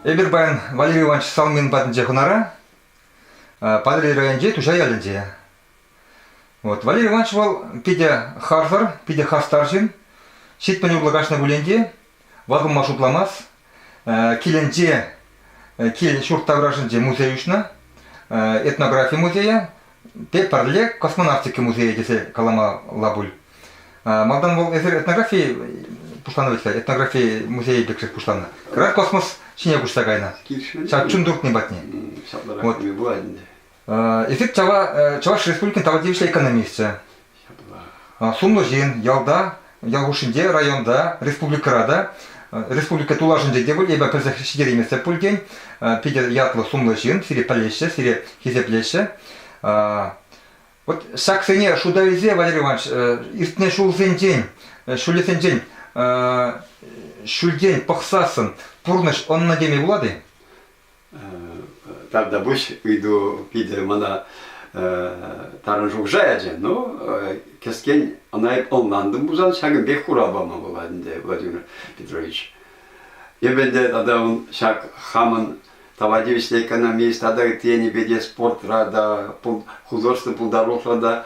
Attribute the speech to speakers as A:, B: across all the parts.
A: Эпир паян Валерий Иванович Салмин патӗнче хунара, Патӑрьел районӗнчи Туҫа ялӗнче. Вот. Валерий Иванович вӑл питӗ харсӑр, питӗ хастар ҫын. Ҫитмӗл урлӑ каҫнӑ пулин те Вакӑма шутламас. Килӗнче, килӗн ҫурт таврашӗнче музей уҫнӑ. Этнографи музейӗ, те пӗрле космонавтика музейӗ тесе каламалла пуль. Малтан вӑл эсир этнографи пуҫланӑ вӗт-ха, этнографи музейӗ пек шех пуҫланнӑ. Кӑрах космос ҫине куҫса кайнӑ. Ҫав чун туртни патне. Ҫапларах вот. пулать ӗнтӗ. Эсир Чӑваш Республикин тава тивӗҫлӗ экономисчӗ. Сумлӑ ҫын, ялта, ял хушшинче, районта, республикӑра та, республика тулашӗнче те пуль, эпӗ пӗлсех ҫитерейместӗп пултен, питӗ ятлӑ сумлӑ ҫын, сире пӗлеҫҫӗ, сире хисеплеҫҫӗ. Вот ҫаксене шута илсе, Валерий Иванович, иртнӗ ҫулсенчен, ҫулӗсенчен ҫӳлтен пӑхсассӑн пурнӑҫ ӑннӑ теме пулать-и?
B: Тогда пусть уйду питӗ мана тарӑн шухӑша ячӗ. Ну, кӗскен ӑна эп ӑнлантӑм пулсан ҫакӑн пек хурав пама пулать ӗнтӗ, Владимир Петрович. Эп ӗнтӗ тата ун ҫак хамӑн тава тивӗҫлӗ экономист тата ытти енӗпе те спортра та, художество пултарулӑхра та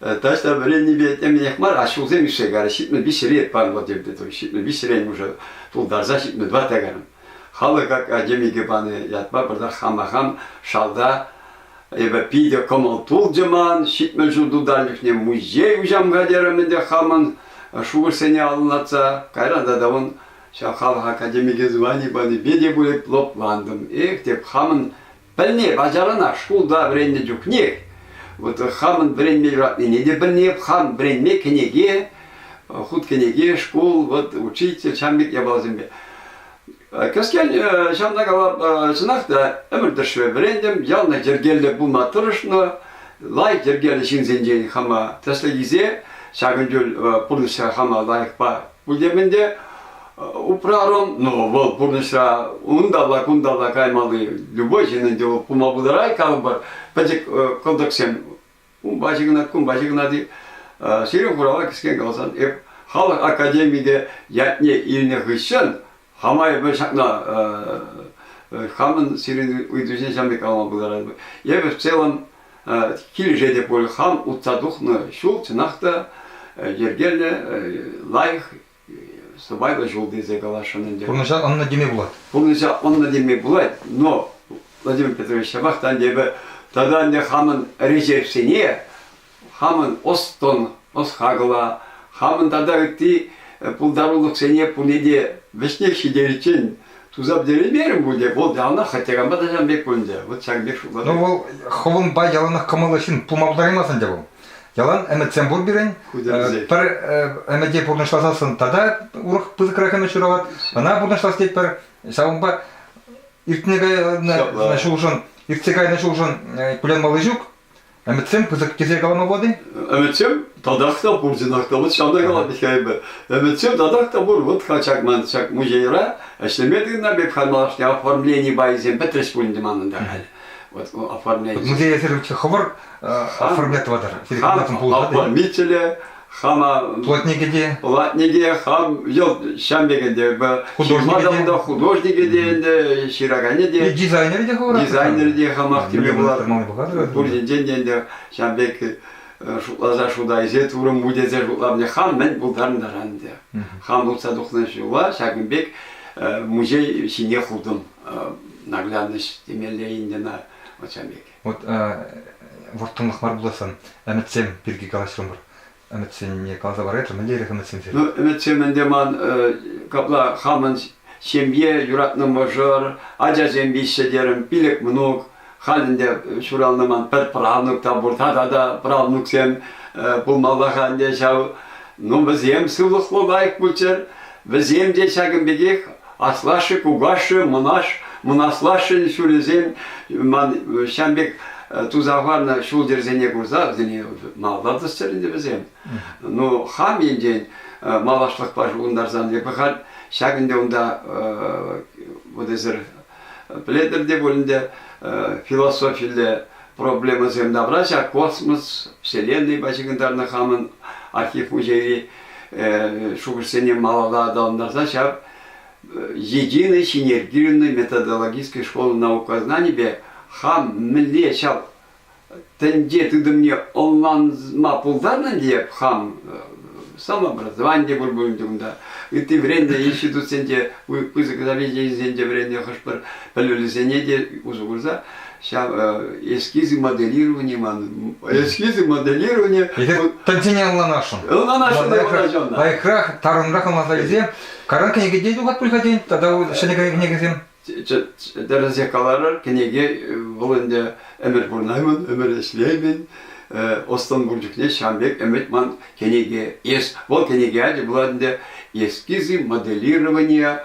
B: Таҫта вӗреннипе темӗнех мар, а ҫулсем ишсе кайрӗ. Ҫитмӗл виҫҫӗре панӑ тепре той. Ҫитмӗл виҫҫӗрен уже тултарса ҫитмӗл тӑватта кайрӑм. Халӑх академике панӑ ятпа пӗртах хама хам шалта эпӗ питӗ кӑмӑл тулчӗ ман. Ҫитмӗл ҫул тутар чухне музей уҫамга терӗм ӗнтӗ хамӑн шухӑшсене алӑнлатса. Кайран тата ун ҫав халӑх академике звани панипе те пулӗ лӑплантӑм. Эх, тек хамӑн Пӗлни ачаранах шкулта вӗреннӗ чухнех вот хамӑн вӗренме юратнине те пӗлнеп, хам вӗренме кӗнеке, хут кӗнеке, шкул, вот учитель, ҫам пек япаласемпе. Кӗскен ҫавна кала, чӑнах та ӗмӗр тӑршшӗ вӗрентӗм, яланах йӗркеллӗ пулма тӑрӑшнӑ, лайӑх йӗркеллӗ ҫынсенчен хама тӗслӗх илсе ҫакӑн чуль пурнӑҫра хама лайӑхпа Пӗлтермен те упрарӑм. Ну, вӑл пурнӑҫра унталла-кунта та каймалли, любой ҫыннӑн те пулма пултарать калӑпӑр. Пӗчӗк кӑлтӑксем унпа ҫыхӑнать, кунпа ҫыхӑнать. Сирӗн хурава кӗскен каласан, эп халӑх академикӗ ятне илнӗ хыҫҫӑн хама эпӗ ҫакна хамӑн сирӗн ыйтусене ҫам пек калама пултаратӑп. Эпӗ в целом килӗшет те пуль, хам утса тухнӑ ҫул чӑнах та йӗркеллӗ, лайӑх сӑпайлӑ ҫул тесе каласшӑн ӗнтӗ. Пурнӑҫа ӑннӑ теме пулать.
A: Пурнӑҫа ӑннӑ теме
B: пулать, но Владимир Петрович ҫапах та ӗнтӗ эпӗ тата ӗнтӗ хамӑн решетьсене хамӑн ӑс-тӑн, ӑс-хакӑла, хамӑн тата ытти пултарулӑхсене пурне те вӗҫнех ҫитериччен туса пӗтереймерӗм пуль те, вӑл явна хӑтьӑранпа тӑҫан пек пулӗнчӗ. Вот ҫак пек шутлатӑп. Ну, вӑл хӑвӑнпа
A: яланах кӑмӑллӑ ҫын пулма пултараймасть ӗнтӗ вӑл. Ялан ӗмӗтсем пур пирӗн. Пӗр ӗмӗте пурнӑҫласассӑн тата урӑх пысӑкрах ӗмӗт ҫуралать. Ӑна пурнӑҫлас тетпӗр. Ҫавӑнпа иртне кайнӑ ҫулшӑн, иртсе кайнӑ ҫулшӑн кулянмалли ҫук. Ӗмӗтсем пысӑк тесе калама пулать-и? Ӗмӗтсем
B: татах та пур, чӑнах та. Вот ҫавна калать Михаил Ӗмӗтсем татах та пур. Вот ҫак ман ҫак музейра ӗҫлеме тытӑнам. Эп хай малашне оформлени пайсем пӗтрӗҫ пулин те манӑнта халь. Вот оформлени. Музейсем хӑвӑр
A: оформлятватӑр. Хан оформителе,
B: Шана плотнике те. Плотнике хам йӑлт ҫам пекен те. Художнике те. Художнике художнике те ӗнтӗ, ҫыраканӗ те. И
A: дизайнерӗ те хӑвӑрах.
B: Дизайнерӗ те хамах теме пулать. Пуринчен те ӗнтӗ ҫам пек шутласа шутайсе турӑм му тесе шутлавне хам мӗн пултарнӑран ӗнтӗ. Хам утса тухнӑ ҫула ҫакӑн пек музей ҫине хутӑм. Наглядность темелле ӗнтӗ на вот ҫам пек. Вот
A: вӑрттӑнлӑх мар пулассан ӗмӗтсем пирки калаҫрӑмӑр. Ӗмӗтсене каласа парайтӑр, мӗнле ирех ӗмӗтсемсем? Ну, ӗмӗтсем ӗнтӗ ман,
B: капла хамӑн ҫемье, юратнӑ мӑшӑр, ачасем виҫҫӗ терӗм, пилӗк мӑнук. Халь ӗнтӗ ҫуралнӑ ман пӗр правнук та пур, тата та правнуксем пулмалла-ха ӗнтӗ ҫав. Ну, вӗсем сывлӑхлӑ, лайӑх пулччӑр. Вӗсем те ҫакӑн пекех Аслашшӗ, кукашшӗ, мӑнаш, мӑнаслашшӗн ҫулӗсем ман ҫam пек туса хӑварнӑ ҫул-йӗрсене курса вӗсене малта тӑсчӑр ӗнтӗ вӗсем. Ну, хам енчен малашлӑхпа шухӑнтарсан эпӗ халь ҫак ӗнтӗ унта вот эсир пӗлетӗр те пуль ӗнтӗ философилле проблемӑсем тавра ҫак космос, Вселеннӑйпа ҫыхӑнтарнӑ хамӑн архив музейри шухӑшсене малалла аталантарса ҫав Единый синергированный методологический школа наукознанипе хам мӗнле ҫав тӗнче тытӑмне ӑнланма пултарнӑ тейӗп хам самообразовани те пур пулин те унта ытти вӗреннӗ институтсенче пысӑк заведенисенче вӗреннӗ хӑш-пӗр пӗлӗвлисене те усӑ курса Ҫав эскизы моделирования манӑн. Эскизы
A: моделирования. Пӗлсене ӑнланасшӑн. Ӑнланасшӑн, ӑнланасшӑн.
B: Лайӑхрах,
A: тарӑнрах ӑнланса илсе каран кӗнекене юхат пуль-ха тен, тата ҫӗнӗ кӗнекесем. Тӗрӗсех
B: каларӑр, кӗнеке вӑл ӗнтӗ ӗмӗр пурӑнаймӑн, ӗмӗр ӗҫлеймӗн. Ӑс-тӑн пур чухне ҫавӑн пек ӗмӗт ман кӗнеке. Вӑл кӗнеке ячӗ пулать ӗнтӗ Эскизы моделирования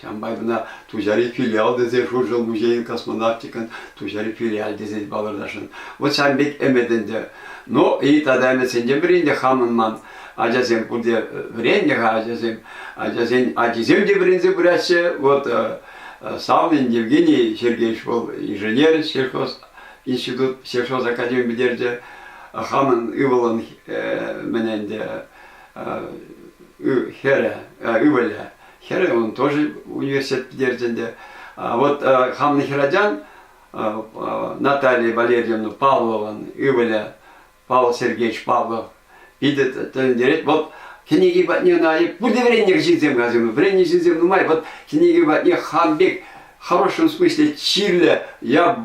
B: Ҫавӑн май мана Туҫари филиал тесе Шуршӑл музейӗн космонавтикӑн Туҫари филиаль тесе палӑртасшӑн. Вот ҫав пек ӗмӗт ӗнтӗ. Ну и тата ӗмӗтсенчен ӗнтӗ хамӑн ман ачасем пурте вӗреннӗ-ха ачасем. Ачасен ачисем те вӗренсе пыраҫҫӗ. Вот Салмин Евгений Сергеевич вӑл инженер сельхоз институт сельхоз академи пӗтерчӗ. Хамӑн ывӑлӑн мӗн ӗнтӗ хӗрӗ, ывӑлӗ. Хӗрӗ он тоже университет пӗтерчӗ ӗнтӗ. Вот хамӑн хӗрачан Наталья Валерьевна Павлован ывӑлӗ Павел Сергеевич Павлов питӗ тӗлӗнтерет. Вот кӗнеки патне ӑна пурте вӗреннӗ ҫынсем касим, вӗреннӗ ҫынсем нумай. Вот кӗнеки патне хам пек в хорошем смысле чирлӗ, я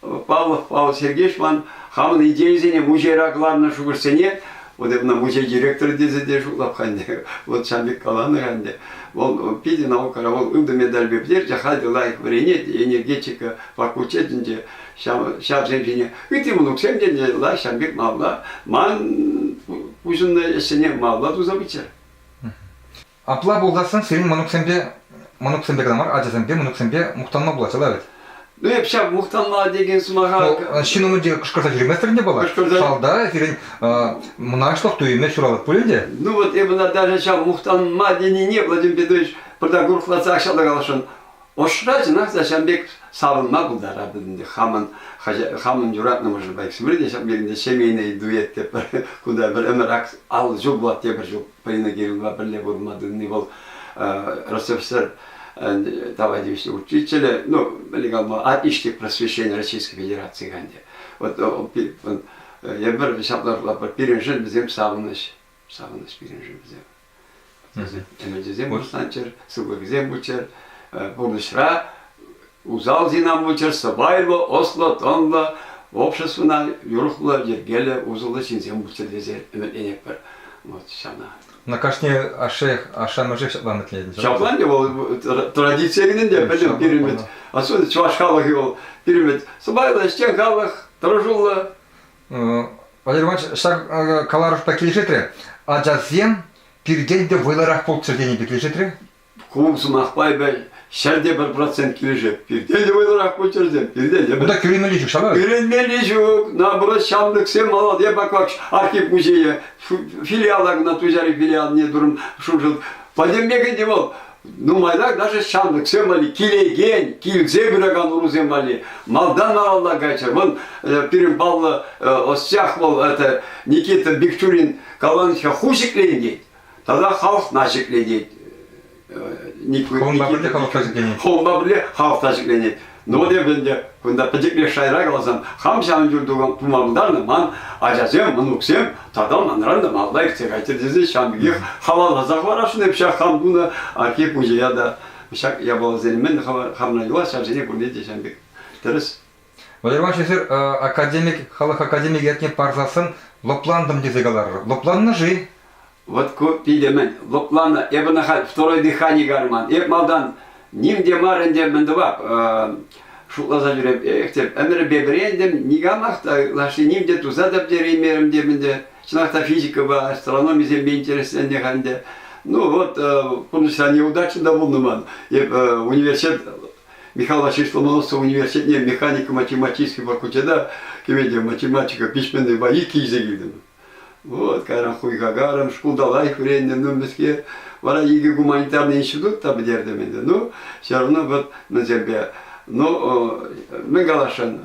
B: Павлов Павел Сергеевичпан хамӑн идейисене мучейра кӑларнӑ шухӑшсене вот мына мучей директоры тесе те шутлап ханне вот ҫав пек каланӑ ханне вӑл питӗ наукӑра вӑл ылтӑн медальпе пӗтерчӗ халь те лайӑх вӗренет энергетика факультечӗнче ҫавсем ҫине ытти мӑнуксем те лайӑх ҫав пек малла ман пуҫӑннӑ ӗҫсене малла туса пыччӑр.
A: Апла пулсассӑн сирӗн мӑнуксемпе кӑна мар, ачасемпе, мӑнуксемпе мухтанма пулаҫҫӗ та вӗт? Эп ҫав
B: мухтанма текен сӑмаха... ҫын умӗнче кӑшкӑрса
A: ҫӳреместӗр ӗнтӗ паллах. Кӑшкӑрса... Шалта сирӗн мӑнаҫлӑх туйӑмӗ ҫуралать пулин те. Ну вот эп ӑна даже
B: ҫав мухтанма тенине, Владимир Петрович, пыртак урӑхлатсах ҫав каласшӑн. Ӑшра чӑнах та ҫав пек савӑнма пултаратӑн ӗнтӗ хамӑн, хамӑн юратнӑ мӑшӑрпа. Сирӗн те ҫав пек ҫемейнӑй дуэт те пӗр кунта пӗр ӗмӗр ак ал ҫук пулать те пӗр ҫук. Полина Кирилловна пӗрле пурӑнма тытни вӑл Ростовсер товарищ учителя, ну, а Иштик просвещения Российской Федерации канде. Вот эпир ҫапла пирӗншӗн вӗсем савӑнӑҫ, савӑнӑҫ пирӗншӗн вӗсем. Ӗмӗчӗсем пуҫланччӑр, сывлӑхӗсем пулччӑр, пурнӑҫра Усал синавмучӑр сӑпайлӑ, ӑслӑ, тӑнлӑ, обществӑна юрӑхлӑ, йӗркеллӗ, усӑллӑ ҫынсем пулччӑр тесе ӗмӗтленетпӗр вот ҫавна. На кашни
A: ашше, ашшӗ-амӑшӗ ҫапла ӗмӗтленетӗн. Ҫапла ӗнтӗ вӑл
B: традици кӑнин те пӗлӗм пирӗн особенно чӑваш халӑхӗ вӑл пирӗн сӑпайлӑ, ӗҫчен халӑх, тӑрӑшуллӑ. Валерий
A: Иванович ҫак каларӑшпа килӗшетрӗ. Ачасем пиртен те вӑйлӑрах пулччӑр тени пек килӗшетрӗ. Ку сӑмахпа
B: эпӗ ҫӗр те пӗр процент килӗшеп. Пирте те вӑйлӑрах пулчӑрсем, пирте те пӗр. Унта кӳренмелли ҫук ҫав.
A: Кӳренмелли ҫук.
B: Наоборот, ҫамрӑксем молодец, бак вак архив музейӗ, филиала кӑна Туҫари филиалне турӑм шуншӑл. Пӗтӗмпех ӗнтӗ вӑл нумайлах даже ҫамрӑксем валли килекен, килсе пыракан урусем валли малтан малалла кайчӑр. Вӑл э, пирӗн паллӑ э, ӑсчах вӑл это Никита Бикчурин Каланичка ху ҫӗкленет. Тата халӑхна ҫӗклетет. Никуна
A: пӗрле халӑхта ҫӗкленет. Холма пӗрле халӑхта
B: ҫӗкленет. Ну вот эп ӗнтӗ кунта пӗчӗклех шайра каласан, хам ҫавӑн юр тума пултарнӑ ман ачасем, мӑнуксем тата манран та малта иртсе кайтӑр тесе ҫавӑн пекех халалласа хӑварасшӑн эп ҫак хам тунӑ архив музея та ҫак япаласене мӗн хавна юлас ҫав сене пурне те ҫавӑн пек тӗрӗс Вӑйӑрмаҫӑсӑр
A: академик, халӑх академик ятне парсассӑн лӑплантӑм тесе каларӑр. Лӑпланнӑ-ши? Вот ку
B: питӗмӗн лӑпланнӑ. Эп ӑна халь второе дыхание карман. Эп малтан ним те мар ӗнтӗ мӗн тӑвап шутласа ҫӳреп. Эх, тем ӗмӗрпе вӗрентӗм, никамах та лаши ним те туса та пӗтереймерӗм тем ӗнтӗ. Чӑнах та физикӑпа астрономисемпе интересленнӗ халь ӗнтӗ. Ну вот, пурнӑҫра неудача та пулнӑ ман. Эп университет Михаил Васильевич Ломоносов университетне механико-математический факультета кӗменте математика письменной боики илсе килтӗм. Вот, кайран хуйхакарӑм, шкулта лайӑх вӗреннӗ, ну, мӗскер. Вара икӗ гуманитарный институт та пӗтертӗм ӗнтӗ. Ну, все равно вот мӗнсемпе, ну, мӗн каласшӑн,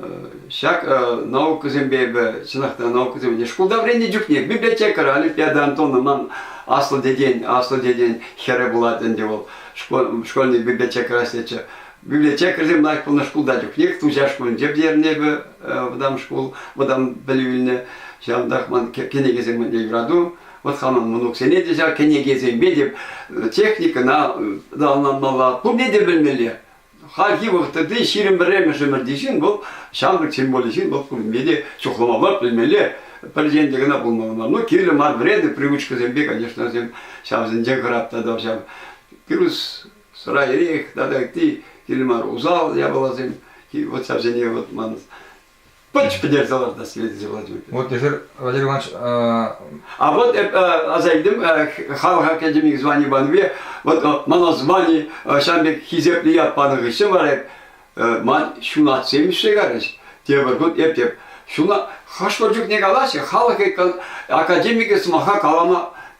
B: ҫак наукӑсемпе эпӗ, чӑнах та наукӑсем, шкулта вӗреннӗ чухне библиотекарь Олимпиада Антоновна ман аслӑ тетен, аслӑ тетен хӗрӗ пулать ӗнтӗ вӑл. школьный библиотекӑра ӗҫлетчӗ. Библиотекарьсем лайӑх пулнӑ шкулта чухнех Туҫа шкулӗнче пӗтернӗ эпӗ вӑтам шкул, вӑтам пӗлӳ илнӗ. Ҫавӑнтах ман кӗнекесем умне юрату. Вот хамӑн мӑнуксене те ҫав кӗнекесемпе те, техникӑна да ӑнланмалла, пурне те белмелле. Хальхи вӑхӑтри ҫирӗм пӗрремӗш ӗмӗрти ҫын вӑл ҫамрӑк символлӗ ҫын вӑл курмелле те чухлама мар пӗлмелле пӗр енте кӑна пулмалла ну кирлӗ мар вредный привычкӑсемпе конечно вӗсем ҫавсенчен хӑратнӑ ҫав пирус сӑра эрех тата ытти кирлӗ мар усал япаласем вот ҫавсене вот ман Пӑч пӗтерсе лартас килет Владимир. Вот эфир, Владимир
A: Иванович... Э, а
B: вот аса илдим халӑха кӗтӗмик звани панипе вот мана звани ҫам пек хисеплӗ ят панӑ хыҫҫӑн вара ман ҫунат семишре карӗҫ. Тепӗр хут эп теп ҫуна хӑш-пӗр чухне калаҫҫӗ, халӑх академикӗ сӑмаха калама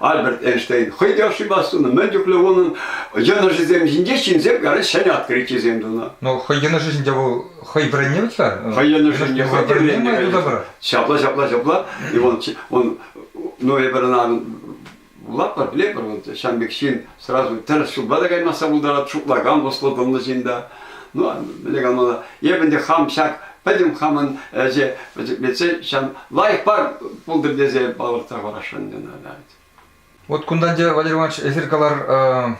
B: Альберт Эйнштейн хӑй те ошибас тунӑ, мӗн чухлӗ унӑн йӑнӑшӗсем ҫинче ҫынсем карать ҫӗнӗ открытисем тунӑ. Ну, хӑй йӑнӑшӗ ҫинче
A: вӑл хӑй вӗреннӗ вӗт-ха. Хӑй йӑнӑшӗ
B: хӑй вӗреннӗ, конечно. Ҫапла, ҫапла, ҫапла. И он, он, ну эпир ӑна вулатпӑр, пӗлетпӗр, он ҫан пек ҫын, Сразу тӗрӗс ҫулпа та каймасса пултарать, шутлакан ӑслӑ тӑнлӑ ҫын та. Ну, мӗнле калмалла, эп ӗнтӗ хам ҫак пӗтӗм хамӑн ӗҫе пӗчӗклетсе ҫав лайӑх пар пултӑр тесе палӑртса парасшӑн ӑна. Вот
A: кунтан те, Валерий Иванович, эсир калар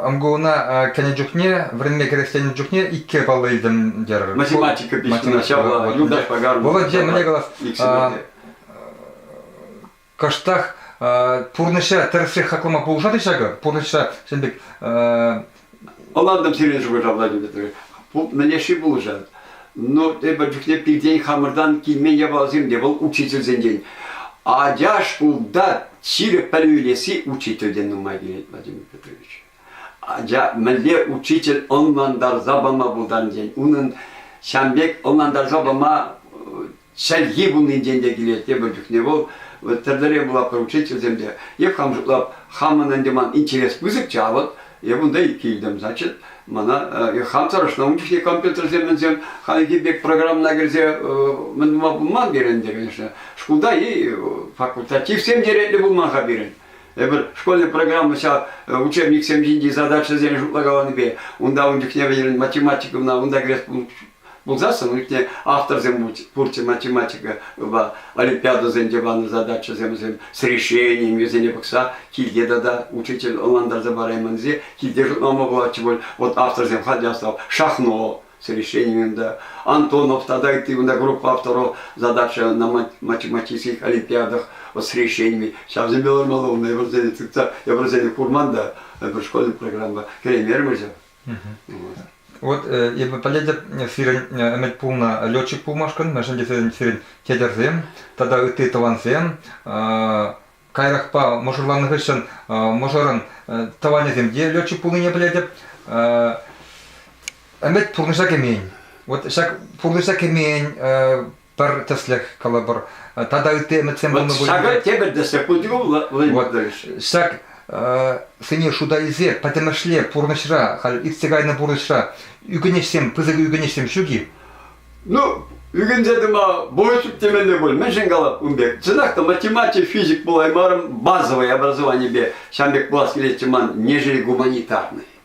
A: МГУна кӗнӗ чухне, вӗренме кӗресленӗ чухне икке паллӑ илтӗм терӗр. Математика
B: пишнина ҫавна Юлдаш Пагармов. Володь, мӗнле
A: калас, кӑштах пурнӑҫра тӗрӗсрех хаклама пулӑшать-и ҫакӑ? Пурнӑҫра ҫын пек...
B: Ӑнлантӑм сирӗн шухӑшлавлату мӗнлеши пулӑшать. Но эпӗ чухне пиртен хамӑртан килмен япаласем те вӑл учительсенчен. Ача шкулта ҫирӗп пӗлӳ илесси учительтен нумай килет, Владимир Петрович. Ача мӗнле учитель ӑнлантарса пама пултарнӑ тен, унӑн ҫам пек ӑнлантарса пама Чӗлхи пулнинчен те килет тепӗр чухне вӑл. Вот тӗрлӗре була поручительсем те. Эп хам шутлап, хамӑн ӗнтӗ ман интерес пысӑкчӗ, а вот эп унта килтӗм, значит, мана э, хам тӑрӑшнӑ. Ун чухне компьютерсем ӗнсем хальхи пек программӑна кӗрсе э, мӗн тума пулман пирӗн те, конечно. Шкулта и э, факультативсем черетлӗ пулман-ха пирӗн. Эпир школьный программа ҫав учебниксем ҫинчи задачӑсене шутлагаланипе унта ун чухне вӗҫерен математика кӑна унта кӗрес Пулсассӑн ӳтне авторсем пурччӗ математикӑпа олимпиадӑсенче панӑ задачӑсем вӗсем с решениями вӗсене пӑхса килте тата учитель ӑнлантарса параймӑн-и килте шутлама пулатчӗ пуль вот авторсем ходястов шахно с решениями да Антонов тата ытти мында группа авторов задача на математических олимпиадах вот с решениями ҫавсемпе лармалла унта эпӗ вӗсене тытса эпӗ вӗсене курман та пӗр школьная программа кӗреймерӗм ҫав
A: Вот э, эпӗ пӗлетӗп, сирӗн э, ӗмӗт пулнӑ летчик пулмашкӑн, мӗншӗн тесен сирӗн тетӗрсем тата ытти тӑвансем э, кайрахпа мӑшӑрланнӑ хыҫҫӑн мӑшӑрӑн тӑванӗсем те летчик пулнине пӗлетӗп. Ӗмӗт пурнӑҫа кӗмен. Вот ҫак пурнӑҫа кӗмен пӗр тӗслӗх калӑпӑр тата ытти ӗмӗтсем пулнӑ пулин те. Ҫакӑ тепӗр тӗслӗх
B: пулчӗ Вот ҫак
A: сене шута илсе пӗтӗмӗшле пурнӑҫра, халь иртсе кайнӑ пурнӑҫра ӳкӗнӗҫсем, пысӑк ӳкӗнӗҫсем ҫук-и? Ну,
B: ӳкӗнсе тӑма более темене пуль, мӗншӗн калап ун пек? Чӑнах та математик, физик пулаймарӑм, базовое образованипе ҫан пек пулас килетчӗ ман, нежели гуманитарный.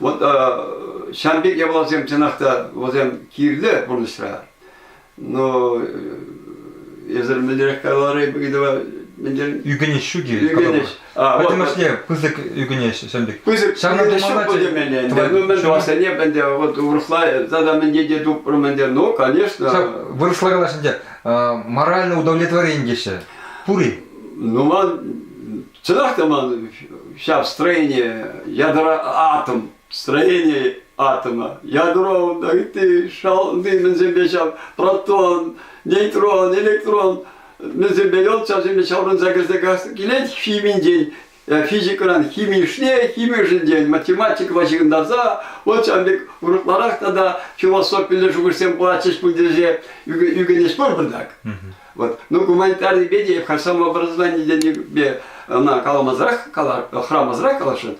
B: Вот ҫан пек япаласем, чӑнах та, вӗсем кирлӗ пурнӑҫра. Но эсир мӗнлерех каларӗ Гидова мӗнле? Ӳкӗнӗҫ ҫуки.
A: Ӳкӗнӗҫ.
B: Пӗтӗмӗшле
A: пысӑк ӳкӗнӗҫ ҫын пек. Пысӑк ӳкӗнӗҫ
B: будем
A: ӗнтӗ.
B: Ну мӗн тӑвассине ӗнтӗ вот урӑхла тата мӗнне те тупрӑм ӗнтӗ. Ну, конечно. Вырӑсла калаҫ
A: ӗнтӗ. Моральное удовлетворение теҫҫӗ. Пур-и? Ну, ман
B: Чӑнах та ман ҫав строение, ядро атом, строение атома, ядро, да ытти шалти мӗнсемпе ҫав, протон, нейтрон, электрон мӗнсемпе йӑл часемпе ҫаврӑнса кӗрсе килет химинчен, э, физикӑран химишне химишӗнчен математикӑпа ҫыхӑнтарса вот ҫавӑн пек урӑхларах тата философилле шухӑшсем пулатчӗҫ пуль тесе ӳкӗнӗҫ пуль бардак. Вот. Ну, гуманитарнипе те, хашам образованийӗпе ӑна каламасӑрах, хӑрамасӑрах каласшӑн,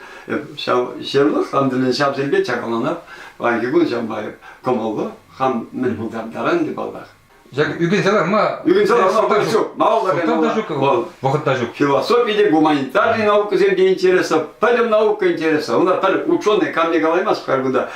B: ҫав ҫырлӑх хамдылин ҫавсемпе чакаланап, паянхи кун ҫавпа кӑмӑллу, хам мӗн пултартаран те паллах. Ҫак ӳкӗнсе
A: ларма... Ӳкӗнсе ларма вӑхӑт ҫук,
B: малалла та ҫук. Вӑхӑт
A: та ҫук. Философи те, гуманитарный
B: наукӑсем те интереслӗ, пӗтӗм наука интереслӗ. Унта пӗр ученый камне калаймасть халь кунта,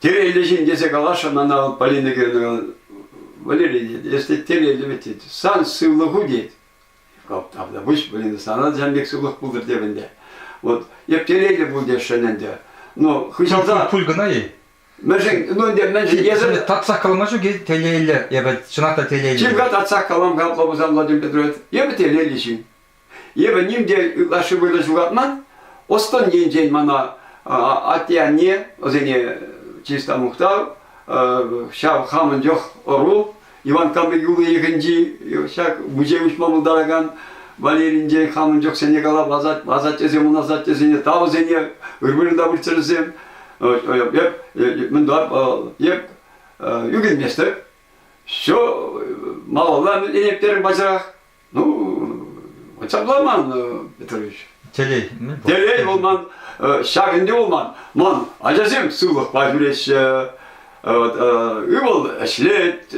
A: Тереллӗ ҫын
B: тесе каласшӑн ӑна Полина Георгиевна Валерий, если тереллӗ вӗт тет, сан сывлӑху тет. Тавда выҫ, блин, сана сам пек сывлӑх пултӑр тев ӗнтӗ. Вот эп тереллӗ пул тесшӗн ӗнтӗ. Но хыҫалта... Пуль кӑна-и?
A: Мӗншӗн, ну ӗнтӗ,
B: мӗншӗн эсӗ... Татсах калама ҫук-и
A: телейлӗ, эпӗ чӑнах та телейлӗ. Чим-ха татсах калам-ха,
B: Лабузан Владимир Петрович, эпӗ телейлӗ ҫын. Эпӗ ним те ытлашши вырӑн ҫухатман. Ӑс-тӑн енчен мана атте-анне, вӗсене чыста мухтав, ҫав хамӑн чух ӑру, Иван Канлӗ юлнӑ йӑхӗнчи ҫак музей уҫма пултаракан Валеринчен хамӑн чухсене калап асаттесем ун асаттесене, тавӑсене ыр-вырӑнта выртсӑрсем. Эп, мӗнпа, эп ӳкӗнместӗп. Все малалла ӗненеп терӗм пачах. Ну, чапламан, Петрович. Телей
A: мӗн пур? Телей вӑл ман,
B: ҫак ӗнтӗ вӑл ман. Ман ачасем сывлӑхпа ҫӳреҫҫӗ. Вот, ывӑл ӗҫлет,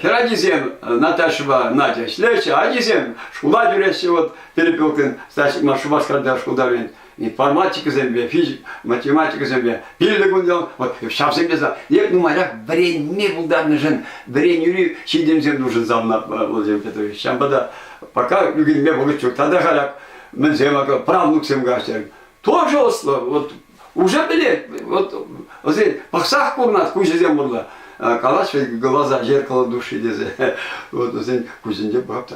B: хӗр ачисем Наташӑпа Надя ӗҫлеҫҫӗ, ачисем шкула ҫӳреҫҫӗ. Вот перепелкин, значит, Шупашкарта шкулта вӗренет. информатикӑсемпе, математикӑсемпе пиллӗк ун ял вот ҫавсем те нумаях вӗренме пултарнӑшӑн вӗренӳри ҫитӗнӳсем нушӑнса ӑнна вӑлсем ҫавӑнпа та пока ӳкерме вӑхӑт ҫук тата халь мӗнсем правнуксем каҫтӑр тоже ӑслӑ вот уже пӗлет вот вӗсен пӑхсах курнать куҫӗсем урлӑ калаҫ глаза зеркало души тесе вот вӗсен куҫӗнче пӑхап та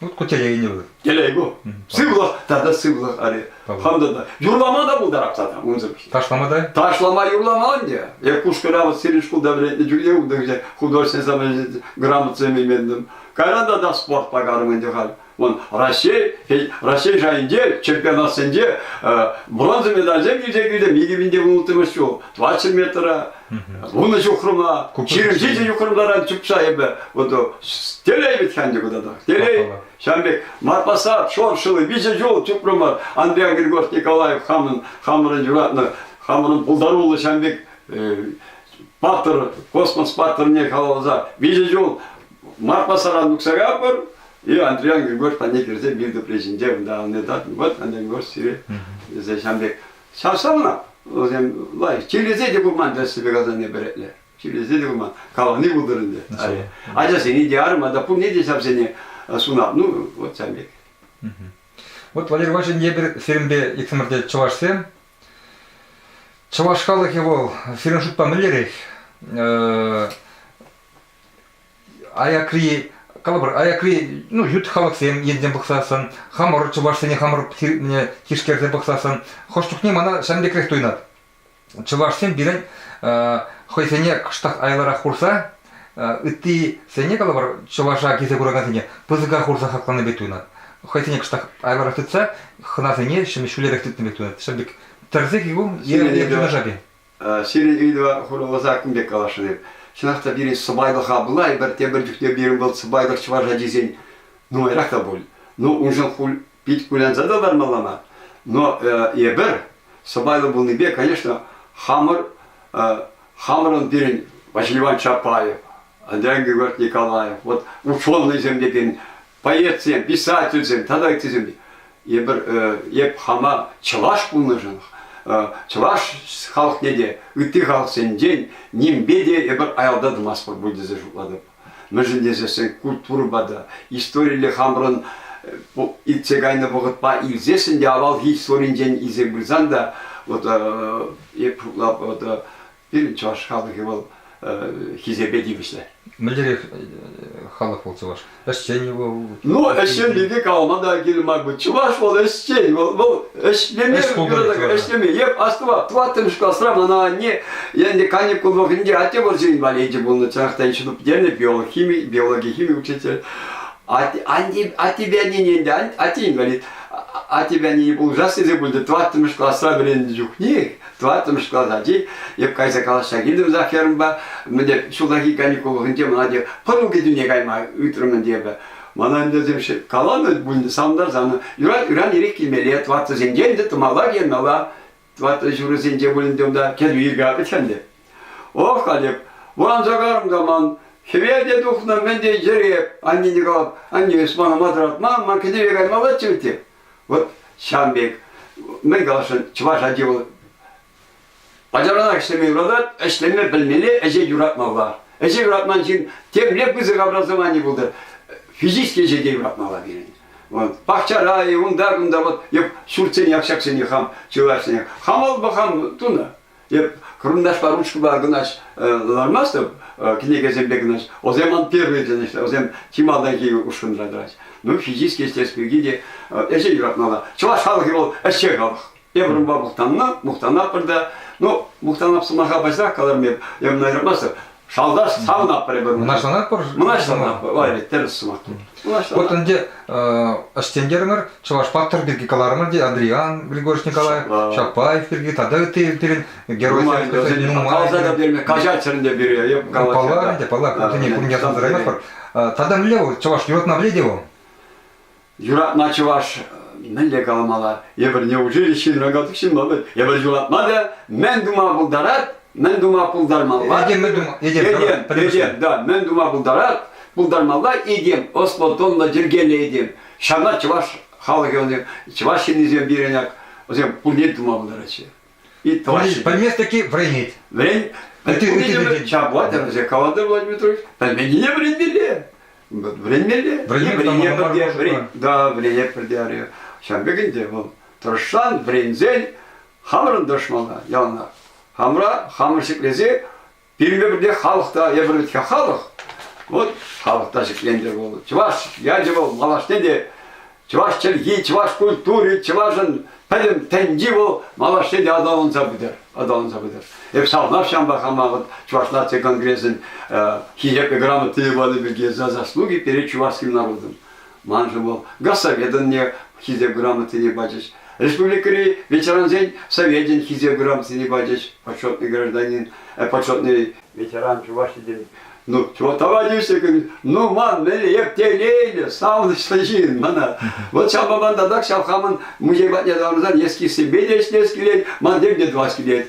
B: Вот
A: кутяйне вы. Телегу.
B: Сывлӑх тата сывлӑх али. Хамдата.
A: Юрлама
B: да пултарапсата унсӑр. Ташлама да?
A: Ташлама юрлама
B: ӗнтӗ. Я кушкӑра вот сирин шкулда вӗрентнӗ чухне удовольствие художественное самоличность грамотами мендім. Кайранда да спорт пакарым ӗнтӗ хал. Вон Раҫҫей, Раҫҫей шайӗнче чемпионатсенче бронза медальсем илсе килтӗм. Икӗ минте улттӑмӗш ҫул 20 метра Вунӑ ҫухрӑма, ҫирӗмҫичӗ ҫухрӑмларан чупса эпӗ вот телей ведь ханде куда-то. Телей, ҫавӑн пек мар посад, шоршылы виҫӗ ҫул чупрӑмӑр Андрей Григорьевич Николаев хамӑн хамӑрӑн юратнӑ, хамӑрӑн пултаруллӑ ҫавӑн пек паттӑр, космос паттӑрне халалласа виҫӗ ҫул Марпасаран тухса капӑр, и Андрей Григорьевич патне кӗрсе мир тӗпре ҫинче унта анне тат, вот Андрей Григорьевич сире ҫавӑн пек Чаршама вӗсем лайӑх. Чирлесе те пулман тӗссепе каланине пӗретле. Чирлесе те пулман. Калани пултӑр ӗнтӗ. Ачасене те арма та пурне те ҫавсене сунап. Ну, вот ҫавӑн пек.
A: Вот, Валерий Иванович, эпир сирӗнпе иксӗмӗр те чӑвашсем. Чӑваш халӑхӗ вӑл, сирӗн шутпа мӗнлерех? аякри калӑпӑр аякри ну ют халӑхсем енсем пӑхсассӑн хамӑр чӑвашсене хамӑр тишкерсе пӑхсассӑн хӑш чухне мана ҫавӑн пекрех туйӑнать чӑвашсем пирӗн хӑйсене кӑштах айлӑрах хурса ыттисене калӑпӑр чӑваша килсе куракансене пысӑка хурса хакланӑ пек туйӑнать хӑйсене кӑштах айлӑрах тытса хӑнасене ҫӗнӗ ҫӳлерех тытнӑ пек туйӑнать ҫав пек тӗрсе килгу юнашарти Сирӗн ыйтӑва
B: хурӑнлӑ саккун пек каласшӑн эп. Чӑнах та пирӗн сӑпайлӑха пула эпир тепӗр чухне пирӗн вӑл сӑпайлӑх чӑваш ачисен нумайрах та пуль. Ну, уншӑн пит кулянса та лармалла мар. Но эпир сӑпайлӑ пулнипе, конечно, хамӑр хамӑрӑн пирӗн Василий Иванович Чапаев, Андрей Григорьевич Николаев, вот условнӑйсем текен поэтсен, писательсен тата ыттисен эпир эп хама чӑваш пулнӑшӑн чӑваш халӑхне те ытти халӑхсенчен нимпе те эпир аялта тӑмастпӑр пуль тесе шутлатӑп. Мӗншӗн тесессен культурӑпа та, историлле хамӑрӑн иртсе кайнӑ вӑхӑтпа илсессӗн те авалхи историнчен илсен пырсан та вот эп шутлап вот Пирӗн чӑваш халӑхӗ вӑл хисепе тивӗҫлӗ. Мӗнлерех
A: халӑх вӑл чӑваш? Ӗҫчен вӑл. Ну, ӗҫчен пирки
B: калама та кирлӗ мар. Чӑваш вӑл ӗҫчен, вӑл, вӑл ӗҫлеме ӗҫлеме. Еп, астӑва, тӑваттӑмӗш класра мана анне, енді каникул вӑхӑтӗнче атте вӑрҫӑ инваличӗ пулнӑ, чӑнахтан ҫыну пӗтернӗ, биолог, хими, биологи, хими учитель. Аттепе аннене ӗнтӗ, атте инвалид. Аттепе аннене пулӑшас тесе пулчӗ. Тӑваттӑмӗш класра вӗреннӗ чухнех тӑваттӑмӗш класс ачи эп кайса калаҫса килтӗм Захарӑмпа мӗнле ҫуллахи каникул хыҫӗнче мана те пӑру кӗтӳне кайма ыйтрӑм ӗнтӗ эпӗ мана ӗнтӗ каланӑ пуль сантӑр санӑн юрать ыран ирех килмелле тӑваттӑсенче ӗнтӗ тӑмалла киенмелла тӑваттӑ ҫурӑсенче пуль ӗнтӗ унта кӗтӳ иркатать ӗнтӗ ох халӗ ванса карӑм та ман хӗвелте тухнӑ мӗн те йӗреп аннене калап анне эс мана маттӑратма ман кӗтӗве каймаллаччӗ вӗт Вот ҫавӑн пек, мӗн каласшӑн, чӑваш ачи вӑл ачалранах ӗҫлеме юратать, ӗҫлеме пӗлмелле, ӗҫе юратмалла. Ӗҫе юратман ҫын темле пысӑк образовани пултӑр, физически ӗҫе те юратмалла пирӗн. Вот. Пахчара, унта, кунта вот ҫуртсене, общаксене хам чылайшине хам аллпа хам тунӑ. Эп карандашпа ручкӑпа кӑнаҫ лармастӑп кӗнекесемпе кӑнаҫ. Вӗсем ман первые кӗнеҫлер, вӗсем чи малтанхи ушкӑнра тӑрать. Ну, физически, естественно, пирки те ӗҫе юратмалла. Чӑваш халӑхӗ вӑл ӗҫче халӑх. Эпир унпа мухтаннӑ, мухтанатпӑр та. Ну, мухтанап сӑмаха пачах каларӑм эп, эм айрӑмастӑп. Шалташ савнаппӑр эпир. Мӑнаҫланатпӑр?
A: Мӑнаҫланатпӑр. Валерий,
B: тӗрӗс сӑмах. Вот ӗнтӗ
A: ӗҫтентерӗмӗр, Чӑваш паттӑр пирки каларӑмӑр те Андриан Григорьевич Николаев, Чапаев пирки тата ытти пирӗн геройсем. Нумай каҫать ӗнтӗ
B: пире. Паллах ӗнтӗ, паллах.
A: Кунтине кун ярса тӑраймастпӑр. Тата мӗнле вӑл? Чӑваш юратма пӗлет-и вӑл? Юратма
B: чӑваш мӗнле каламалла? Эпӗрне училищин роботик ҫынлӑпӑт, эпӗр юратма та мӗн тума пултарать, мӗн тума пултармалла? Этем, мӗн тума, этем, этем, этем, да, мӗн тума пултарать, пултармалла этем, ӑслӑ-тӑнлӑ, йӗркеллӗ этем. Ҫавна чӑваш халӑхӗ, чӑваш ҫыннисем пирӗн ак, вӗсем пурне тума пултараҫҫӗ. И товарищи. Пӗлмест
A: таки вӗренет. Вӗрен. Пӗлменнине
B: чаплатя вӗсе каланды Владимир Петрович. Пӗлменнине вӗренмелле. Вӗренмелле. Вӗренмелле пӗрде. Да, вӗренет пӗрде. Ҫавӑн пек ӗнтӗ вӑл тӑрӑшсан, вӗренсен хамӑрӑн тӑрӑшмалла яланах. Хамӑра хамӑр ҫӗклесе Пирӗнпе пӗрле халӑх та евӗрлӗ халӑх. Вот халӑх та ҫӗкленчӗ вӑл. Чӑваш ячӗ вӑл малашне те чӑваш чӗлхи, чӑваш культури, чӑвашӑн пӗтӗм тӗнчи вӑл малашне те аталанса пытӑр, аталанса пытӑр. Эп савнав ҫампа хама вот Чӑваш наци конгресӗн э, Хисепе грамота панӑ пирки за заслуги перед чувашским народом. Маншӑн вӑл Госсоветӑнне Хисеп грамотине пачӗҫ. Республикӑри ветерансен Совечӗн Хисеп грамотине пачӗҫ. Почетный гражданин, э, почетный ветеран Чуваш Един. Ну, чего товарищи, говорит, ну ман рептилийли, савнӑҫлӑ ҫын мана. Вот ҫав маман татах ҫав хамӑн музей патне таврӑнсан нескисемпе десять килет, ман тем те двадцать килет.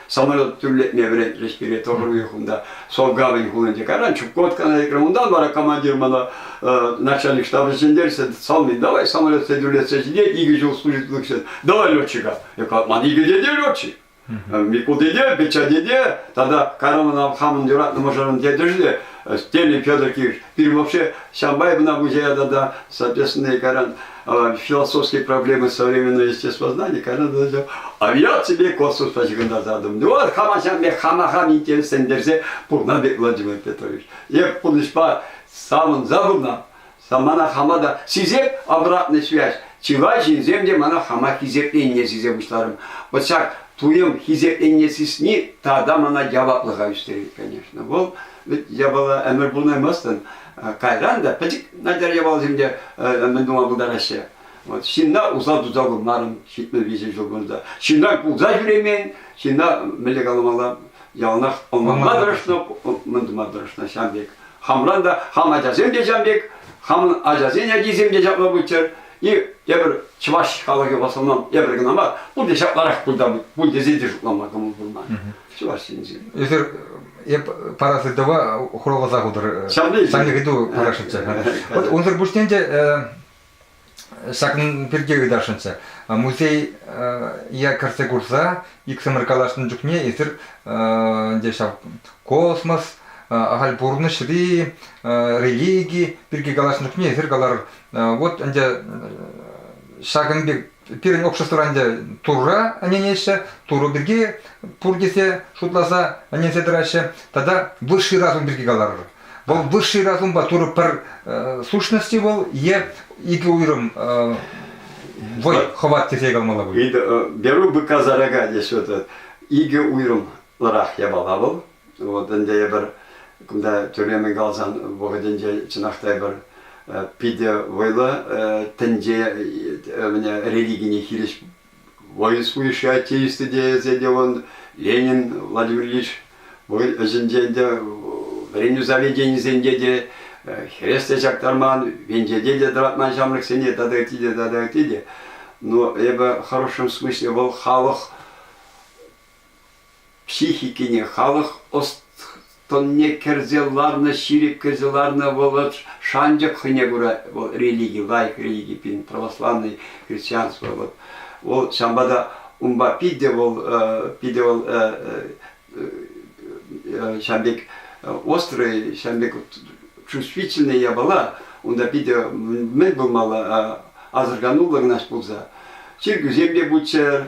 B: самолет тӳрлетме вӗрентрӗҫ пире тоже уйӑхунта Солгавань хулинче. Каран Чукоткана лекрӗм. Унтан вара командир мана э, начальник штаба ҫӗнтерсе салмин, давай самолетсем тӳрлетсе ҫитет, икӗ ҫул служитель ҫын, давай летчика. Я говорю, ман икӗ деде летчик. Микул деде, Печа деде, тогда Караманов хамӑн юратнӑ мӑшӑрӑн дедешне, Стелин Федор Киевич, пир вообще Шамбай мына музея тата, соответственно, Каран философские проблемы современного естествознания, когда ты начал, а я тебе космосла ҫыхӑнтарса атӑм, вот хама ҫав пек хамахам интереслентерсе пурна пек Владимир Петрович. Эп пурнӑҫпа самӑн забывна, мана хама та сисеп обратная связь, чылай ҫынсем те мана хама хисепленне сисе пуҫларым. Вот ҫак туйӑм хисепленне сисни тата мана яваплӑха ӳстерет, конечно. Вӑл Вӗт япала ӗмӗр пулмаймастӑн. Кайран та пӗчӗк начар япаласем те мӗн тума пултараҫҫӗ. Вот ҫынна усал туса курмарӑм ҫитмӗл виҫӗ ҫул кунта. Ҫынна кулса ҫӳремен, ҫынна мӗнле каламалла, яланах ӑнланма тӑрӑшнӑ, мӗн тума тӑрӑшнӑ ҫам пек. Хамран та, хам ачасем те ҫам пек, хамӑн ачасен ачисем те ҫапла пулччӑр. И тепӗр чӑваш халӑхӗ в основном эпӗр кӑна мар, пурте ҫапларах пулта пуль тесе те шутлама кӑмӑл пулман. Чӑваш Енчен.
A: Эсир эп парас ыйтӑва хуравласа хутӑр. Ҫавна ыйту парасшӑнччӗ. Вот унсӑр пуҫне те ҫакӑн пирки ыйтасшӑнччӗ. Музей я кӗрсе курса иксӗмӗр калаҫнӑ чухне эсир ӗнтӗ ҫав космос ахаль пурнӑҫри религи пирки калаҫнӑ чухне эсир калар вот ӗнтӗ ҫакӑн пек пирӗн общество ӗнтӗ Турра ӗненеҫҫӗ, Турӑ пирки пур тесе шутласа ӗненсе тӑраҫҫӗ. Тата высший разум пирки каларӑр. Вӑл высший разумпа Турӑ пӗр сущности вӑл е икӗ уйрӑм вӑй, хӑват тесе калмалла пуль. Беру быка
B: зарага теҫҫӗ. Икӗ уйрӑмлӑрах япала вӑл, Вот ӗнтӗ эпир кунта тӳрремӗн каласан вӑхӑтӗнче чӑнах та эпир питӗ вӑйлӑ тӗнче религине хирӗҫ военствующая теисты тесе те он Ленин, Владимир Ильич вӑй ӗҫӗнче ӗнтӗ вӗренӳ заведенийӗсенче те хрест те чактарман, венчете те тӑратман ҫамрӑксене тата ытти те тата ытти те. Но эпӗ в хорошем смысле вӑл халӑх Психикине халӑх ӑс-тӑнне кӗрсе ларнӑ, ҫирӗп кӗрсе ларнӑ вӑл шанчӑк хӑйне кура. Вӑл религи, лайӑх религи, пин православный христианство. Вот. Вӑл ҫавӑнпа та унпа питӗ вӑл, питӗ вӑл ҫавӑн пек острый, ҫавӑн пек чувствительный япала, унта питӗ мӗн пулмалла, асӑрхануллӑ кӑна пулса. Чиркӳсем те пулччӑр,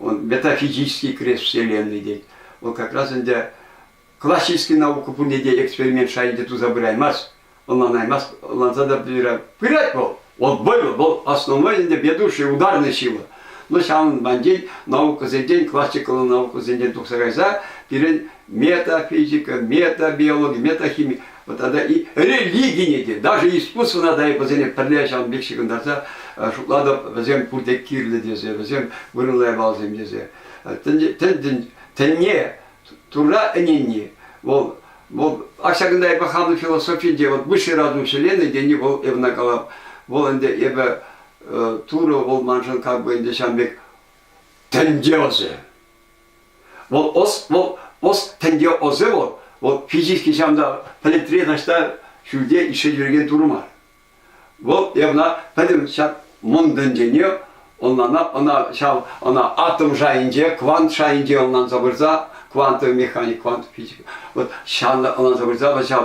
B: метафизический крест Вселенной тет. Вӑл как раз ӗнтӗ классический наука пурне те эксперимент шайӗнче туса пыраймасть, ӑнланаймасть, ӑнланса та пырать вӑл. Вӑл вӑйлӑ, вӑл основной ӗнтӗ ведущий, ударный сила. Но ҫавӑн банчен наукӑсенчен, классикаллӑ наукӑсенчен тухса кайса пирӗн метафизика, метабиологи, метахими тата и религине те, даже искусствӑна та вӗсене пӗрле ҫавӑн пек ҫыхӑнтарса шутлатӑп, вӗсем пурте кирлӗ тесе, вӗсем вырӑнлай балсем тесе. Тӗн тӗне, Турра ӗненни, вӑл вӑл а ҫакӑнта эпӗ хамӑн философинче вот высший разум вселенной тени вӑл эпӗ калап вӑл ӗнтӗ эпӗ Турӑ вӑл маншӑн как бы ӗнтӗ ҫавӑн пек тӗнче ӑсӗ Вӑл ӑс, вӑл ӑс тӗнче ӑсӗ вӑл, вӑл физически ҫав та пӗлӗтре таҫта ҫӳлте ишсе ҫӳрекен турӑ мар. Вӑл ӑна пӗтӗм ҫак мӑн тӗнчене ӑнлана ӑна ҫав ӑна атом шайӗнче, квант шайӗнче ӑнланса пырса, квантовый механик, квант физик. Вот ҫанла ӑнланса пырса вӑл ҫав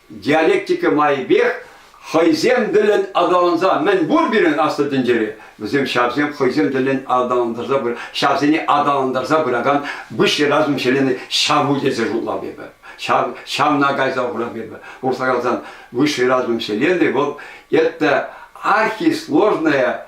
B: Диалектика майӗпех хӑйсем тӗлӗн аталанса мӗн пур пирӗн аслӑ тӗнчере, вӗсем ҫавсем хӑйсем тӗлӗн аталантарса ҫавсене аталантарса пыракан высший разум вселенной ҫаву тесе шутлап эпӗ. Ҫав, ҫавна кайса хурап эпӗ. Урса калсан, высший разум вселенной вӑл это архисложная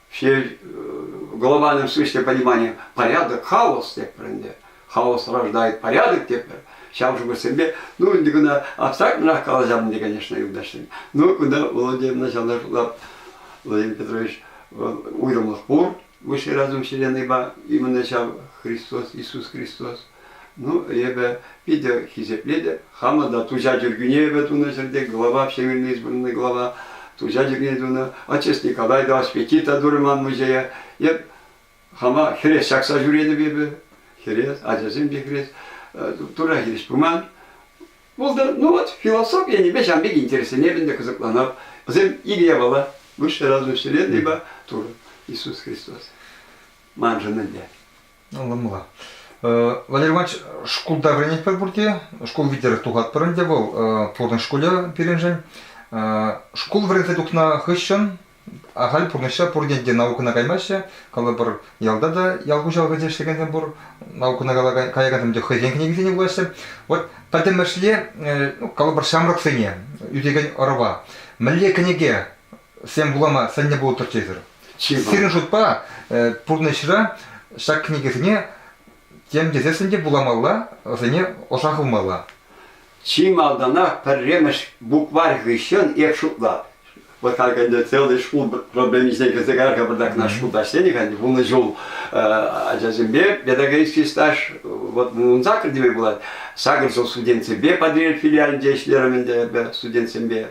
B: все глобальном смысле понимания порядок, хаос тепӗр ӗнтӗ. Хаос рождает порядок тепӗр. Ҫав шухӑшсемпе, ну, ӗнтӗ куна абстрактнӑрах калаҫам ӗнтӗ, конечно, юлташсем. Ну, кунта Владимир Началнӑр Владимир Петрович уйрӑмлӑх пур высшей разум вселеннӑйпа, именно ҫав Христос, Иисус Христос. Ну, эпӗ питӗ хисеплетӗп. Хамӑр та туҫа чиркӳне эпӗ тунӑ ҫӗрте глава, Всемирно избранный глава, туҫа чиркӳне тунӑ, Отчасти Николай Ильич пекки та турӗ ман музее. Эп хама хӗрес ҫакса ҫӳретӗп эпӗ. Хӗрес, ачасем те хӗрес. Тура хирӗҫ пыман. Булда, ну вот философи енӗпе ҫан пек интересленеп ӗнтӗ, кӑсӑкланап. Вӗсем икӗ япала. Высшая разум вселенная, Тура, Иисус Христос. Маншӑн ӗнтӗ. Ӑнланмала.
A: Валерий Иванович, шкулта вӗренетпӗр пурте. Шкул витӗр тухатпӑр ӗнтӗ вӑл пурнӑҫ шкулӗ пирӗншӗн. Шкул вӗренсе тухнӑ хыҫҫӑн ахаль пурнӑҫра пурне те наукӑна каймаҫҫӗ. Калӑпӑр, ялта та ял хуҫалӑхӗнче ӗҫлекенсем пур, наукӑна каякансем те хӑйсен кӗнекисене вулаҫҫӗ. Вот пӗтӗмӗшле, ну, калӑпӑр, ҫамрӑксене ӳсекен ӑрӑва мӗнле кӗнеке Сем вулама сӗннӗ пултӑр тесӗр. Сирӗн шутпа пурнӑҫра ҫак кӗнекесене тем тесессӗн те вуламалла, вӗсене ӑша хывмалла. Чи
B: малтанах пӗрремӗш букварь хыҫҫӑн эп шутлап. Пытак ӗнтӗ целый шкул проблемисене кӗрсе кар-ха пӑртакна шкултаҫ тенӗ-ха вунӑ ҫул ачасемпе педагогический стаж вот ун сакӑр теме пулать. Сакӑр ҫул студентсемпе Патӑрьел филиалӗнче ӗҫлерӗм ӗнтӗ эпӗ студентсемпе.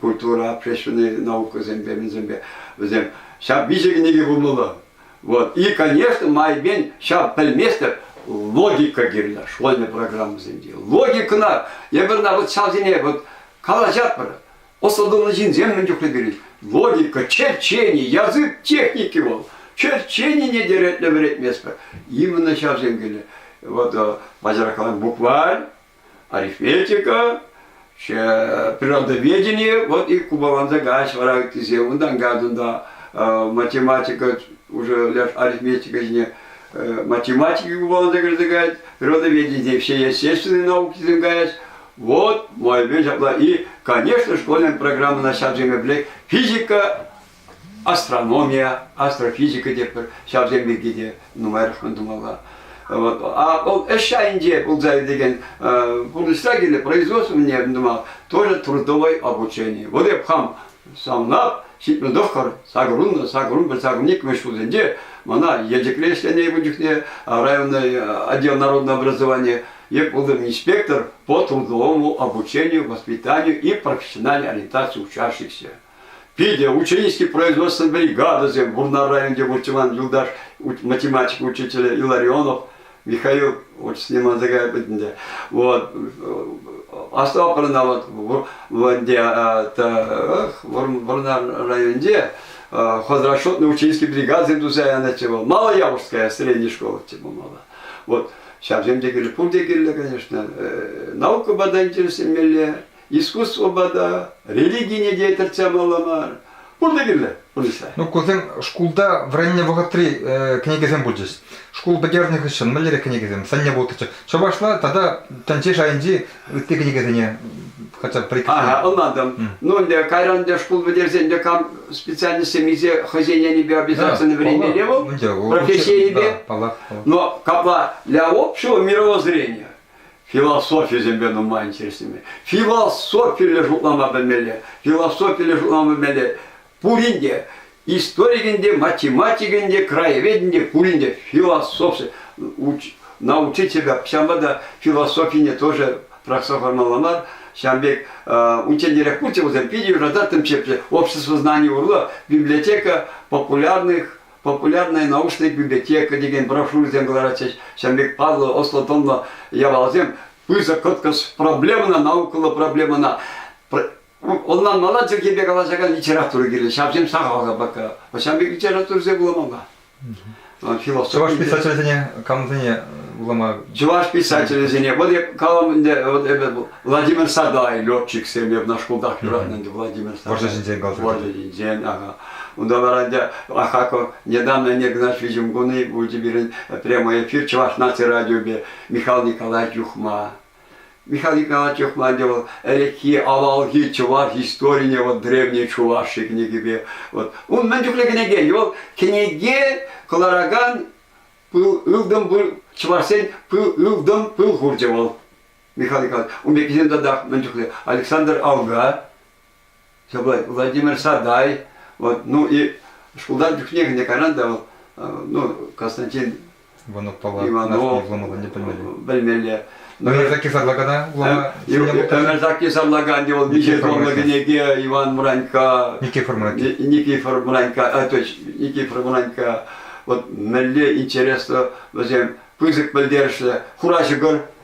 B: культура общественнӑй наукӑсемпе мӗнсемпе вӗсем ҫав виҫӗ кӗнеке пулмалла. Вот. И, конечно, майбен ҫав пӗлместӗп логика кирлӗ школьный программӑсенче. Логикӑна эпир вот ҫавсене вот калаҫатпӑр. Ӑслӑ ҫынсем мӗн чухлӗ пирӗн. Логика, черчени, язык техники вӑл. Черченине те ретле вӗретместпӗр. Именно ҫавсем килнӗ. Вот э, баджаракалан букварь арифметика, природоведение, вот и купаланса кач вара тесе унтан кадунда математика уже ляж арифметика ҫине математики купаланса кӗрсе каять, природоведение все естественные науки сем каять. Вот мой ҫапла. И, конечно, школьная программа на сейчас физика Астрономия, астрофизика тетпӗр, ҫавсем пирки те нумайрахман тумалла. Вот. А вӑл ӗҫ айӗнче пулса иртекен пурнӑҫра килнӗ производствование тумал, тоже трудовое обучение. Вот эп хам самлап ҫитмӗл тӑххӑр сакӑрунлӑ сакӑрун сакӑрникмӗш ҫулсенче мана Елчӗкре ӗҫленӗ эпӗ чухне районное отдел народного образования я был инспектор по трудовому обучению, воспитанию и профессиональной ориентации учащихся. Питӗ ученический производство бригадӑсем, Вурнар районӗнче выртчӑлан юлташ математика учителӗ Илларионов Михаил очень с ним отзывает ӗнтӗ. Вот. Оставлено вот где Вурнар районӗнче хозрасчетный ученический бригадӑсем туса янаҫҫӗ вӑл. Мало Явушская средней школы типа мало. Вот ҫавсем те кирлӗ. Пурте кирлӗ, конечно. Наука бада интересленмелле. искусствӑпа та, религине те тӗртсе ямалла мар. Пурте кирлӗ профессия. Ну, кусем шкулта
A: вӗреннӗ вӑхӑтри э, кӗнекесем пулчӗҫ. Шкул пӗтернӗ хыҫҫӑн мӗнлере кӗнекесем сӑнне пултӑччӗ. Чӑвашла тата тӗнче шайӗнчи ытти кӗнекесене хотя бы порекомендую. Ага, ӑнлантӑм.
B: Ну, ӗнтӗ кайран ӗнтӗ шкул пӗтерсен ӗнтӗ кам специальностьсем илсе хӑйсен енӗпе обязательно вӗренмелле вӑл, профессийӗпе. Но капла для общего мирового зрения философисемпе нумай интереслеме. Философилле шутлама пӗлмелле. Философилле шутлама пӗлмелле. Пурин те, историкӗн те, математикӗн те, краеведӗн те, пурин те философи научить себя. Ҫавӑнпа та философине тоже пӑрахса хӑвармалла мар. Ҫавӑн пек унччентерех пулчӗ вӗсем питӗ юрататтӑм ҫепҫе. Общество знаний урлӑ библиотека популярных Популярная научная библиотека текен брошюрӑсем кӑларатчӗҫ. Ҫавӑн пек паллӑ, ӑслӑ-тӑнлӑ япаласем пысӑк кӑткӑс проблемӑна, наукӑллӑ проблемӑна ӑнланмалла чӗлхепе калаҫакан литература кирлӗ. Ҫавсем сахал капака. Ҫавӑн пек литературӑсем вуламалла.
A: Чӑваш писателӗсене камсене вулама? Чӑваш писателӗсене.
B: Вот я калам ӗнтӗ, вот это Владимир Садай, летчиксем эпӗ шкултах юратнӑ ӗнтӗ Владимир Садай. Вӑрҫӑ ҫинчен каласа. Вӑрҫӑ
A: ҫинчен, ага.
B: Унта вара ӗнтӗ Ахаков недавно не гнаш видим гуны, будете пирӗн прямой эфир Чӑваш наци радиопе Михаил Николаевич Юхма. Михаил Николаевич Юхма ӗнтӗ вӑл ӗлӗкхи, авалхи чӑваш историне, вот древней чуваши кӗнекипе. Вот. Он мӗн чухлӗ кӗнеке. Вӑл кӗнеке кӑларакан пыл ылтӑн пыл, чӑвашсен пыл ылтӑн пыл хурчӗ вӑл. Михаил Николаевич, ун пеккисем татах мӗн чухлӗ. Александр Алга, Владимир Садай, вот, ну и шкултан чухнех не кайран да вот, ну, Константин Иванов Иванов вуламаллине білмелі білмелі өмірзақ
A: кесарлағана өмірзақ
B: кесарлағанде ол ничего кӗнеке Иван Мранька Никифор Мранька
A: Никифор Мранька
B: а то Никифор Мранька вот мелле интересно вӗсем пысӑк пӗлтерӗшлӗ хура ҫӑкӑр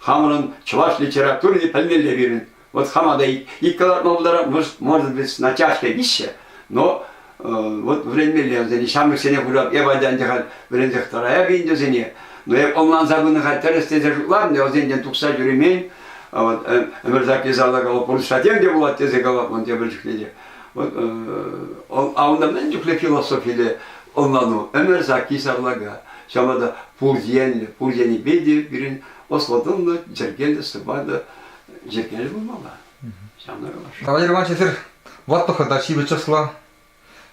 B: Хамӑрӑн чӑваш литературине пӗлмелле пирӗн. Вот хама да иккӗ лартма пултарамӑш, может быть, на тяжкой вище, но вот вӗренмелле вӗсене. Ҫамрӑксене курап, эп ачан тӑхать, вӗренсех тӑраяп ӗнтӗсене. Но эп ӑнланса пынӑ-ха тӗрӗс тесе шутларӑм, вӗсенчен тухса ҫӳремен. Вот ӗмӗр записала калап, пурнӑҫра тем те пулать тесе калап ман тепӗр чухне те. Авнамнан чухле философиле ӑнлану ӗмӗр сакки сарлака. Ҫавна та пур енлӗ, пур енӗпе те пирӗн ӑслӑ-тӑнлӑ, йӗркеллӗ, сыпайлӑ йӗркеллӗ пулмалла. Ҫавна калас.
A: Кавалер Ванчесер ватлӑхӑ та ҫивӗч ӑсла,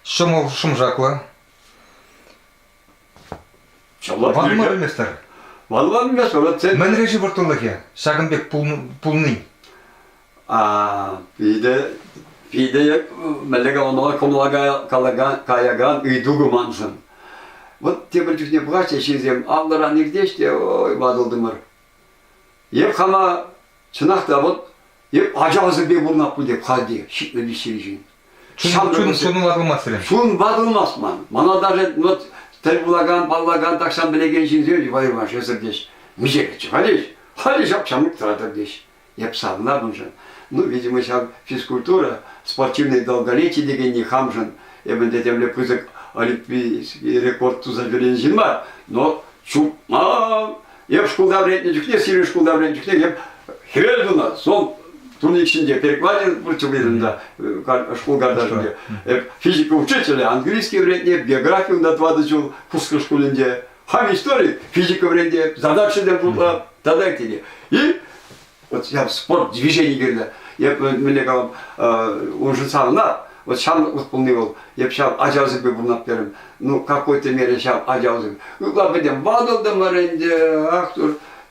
A: ҫӑмӑл шӑмшаклӑ. Ванма пӗлместӗр. Ванма
B: пӗлместӗр. Мӗнре-ши вӑрттӑнлӑхӗ
A: ҫакӑн пек пулнин? Питӗ
B: питӗ мӗнле калама каякан ыйту ку маншӑн. Вот тепӗр чухне пулаҫҫӗ ҫынсем, аллӑран иртеҫ те ой, ватӑлтӑмӑр. Эп хама, чӑнах та, вот эп ачасемпе пурӑнап пуль теп халде, ҫитнӗ виҫҫӗмшӗн. Чун ватӑлмасть
A: Чун ватӑлмасть ман.
B: Мана даже вот тӗл пулакан, паллакан, тахҫан пӗлекен ҫынсем вӑйӑман шесӗр теҫ. Миҫереччӗ, халеҫ, халеҫ ак ҫамрӑк тӑратӑр теҫ. Эп савнапӑншӑн, ну, видимо, ҫав физкультура, спортивные долголетия текенни хамшӑн эп ӗнтӗ темле пысӑк олимпийский рекорд туса ҫӳренӗ ҫын мар, но чупман. Эп шкулта вӗреннӗ чухне, сирӗн шкулта вӗреннӗ чухне эп хӗвел тунӑ, сол турник ҫинче перекладин противлетинда шкул карташӗнче. Эп физика учителӗ, английский вӗрентнӗ, эп географи унта тӑватӑ ҫул Курскай шкулӗнче. Хам истори, физика вӗрентем, задача та пулам, тата те. И вот я спорт движений кирді. Еп міне калам, уже санна, вот шан вот полный был, еп шан ачалсипе бунат берем. Ну, какой-то мере шан ачалсып. Ну, ладно, бедем, бадылдым аренде, ах,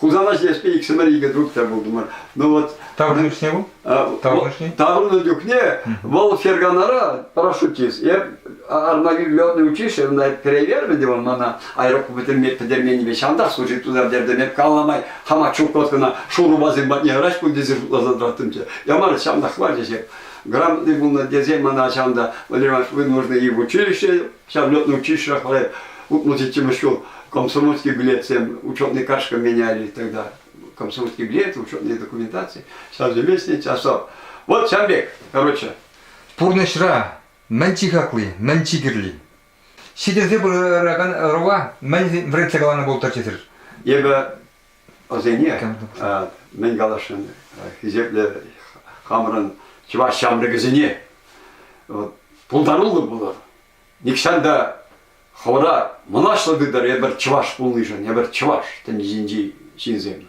B: Хусана ҫитеспе иксӗмӗр икӗ друг та пултӑмӑр. Ну вот. Таврӑннӑ чухне вӑл?
A: Таврӑннӑ чухне? Таврӑннӑ
B: чухне вӑл Ферганара парашютист. Я Армавир летное училищене перевермӗн те вӑл мана аэробка пӗтерменнипе ҫантах служить тутар тердем эп калла май хама чукоткӑна шурупасем патне ыраш пуль тесе шутласа тӑраттым те ямарӗ ҫантах хвачӗ ҫеп грамотный пулнӑ тесе мана ҫанта Владимир Иванович вы нужны и в училище Ҫав летнӑй чышрах вара утмӑл ҫиччӗмӗш ҫул комсомольский билетсем учетный карточка меняли тогда. Комсомольский билет, учетные документации, совместный часов. Вот ҫав пек, короче. Пурнӑҫра
A: мӗн чи хакли, мӗн чи кирли? Ҫитӗнсе пыракан ӑрӑва мӗн вӗретсе каланӑ пултӑр тесӗр? Эпӗ
B: Вӗсене мӗн каласшӑн, хисеплӗ хамӑрӑн чӑваш ҫамрӑкӗсене пултаруллӑ пулӑр. Нихҫан та хӑвӑра мӑнаҫлӑ тытӑр эпир чӑваш пулнишӗн, эпир чӑваш тӗнчинчи ҫынсем.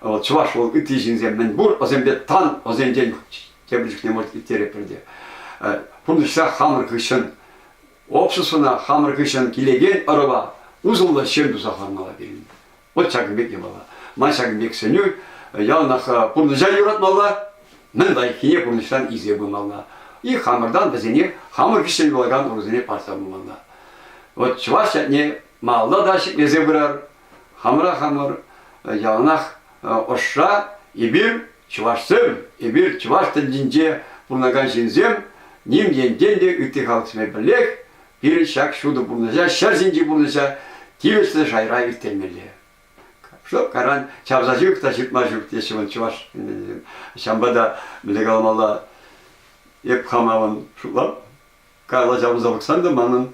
B: Вӑл чӑваш вӑл ытти ҫынсем мӗн пур, вӗсемпе тан вӗсенчен тепӗр чухне может ирттереппӗр те. Пурнӑҫра хамӑр хыҫҫӑн обществӑна, хамӑр хыҫҫӑн килекен ӑрӑва усӑллӑ ҫын туса хӑвармалла пирӗн. Вот ҫакӑн пек йӑмала. Ман ҫакӑн пек сӗнӳ яланах пурнӑҫа юратмалла, мӗн лайӑххине пурнӑҫран илсе пымалла. И хамӑртан вӗсене, хамӑр хыҫҫӑн юлакан урусене парса пымалла. Вот чӑваш ятне малалла та ҫӗклесе пырар. Хамӑра хамӑр яланах ӑшра эпир чӑвашсем, эпир чӑваш тӗнчинче пурӑнакан ҫынсем, ним ентен те ытти халӑхсемпе пӗрлех Пирӗн ҫак ҫутӑ пурнӑҫа ҫӗр ҫинчи пурнӑҫа тивӗҫлӗ шайра ирттермелле. Чтоб каран чавса ҫук та ҫыртма ҫук теҫҫӗ вон чӑваш ҫавӑнпа та мӗнле каламалла эп хамавӑн шутлап кала ҫавӑнса пӑхсан та манӑн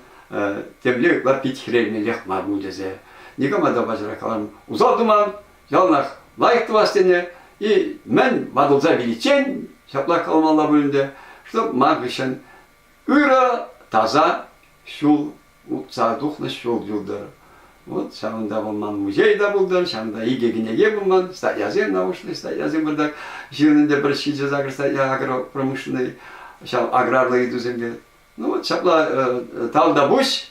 B: темле ытла пит хӗрелмеллех мар ку тесе никама та ваҫӑра калам усал туман яланах лайӑх тумас тене и мӗн ватӑлса виличчен ҫапла каламалла пуль ӗнтӗ чтоб ман хыҫҫӑн Ырӑ, таса ҫул утса тухнӑ ҫул юлтӑр. Вот ҫавӑнта вӑл ман музей та пултӑр, ҫавӑнта икӗ кӗнеке пулман, статьясем научный, статьясем бардак. Ҫырнӑ пӗр ҫичӗ сакӑр статья агропромышленнӑй, ҫав аграрлӑ ыйтусемпе. Ну вот ҫапла, тал та пуҫ,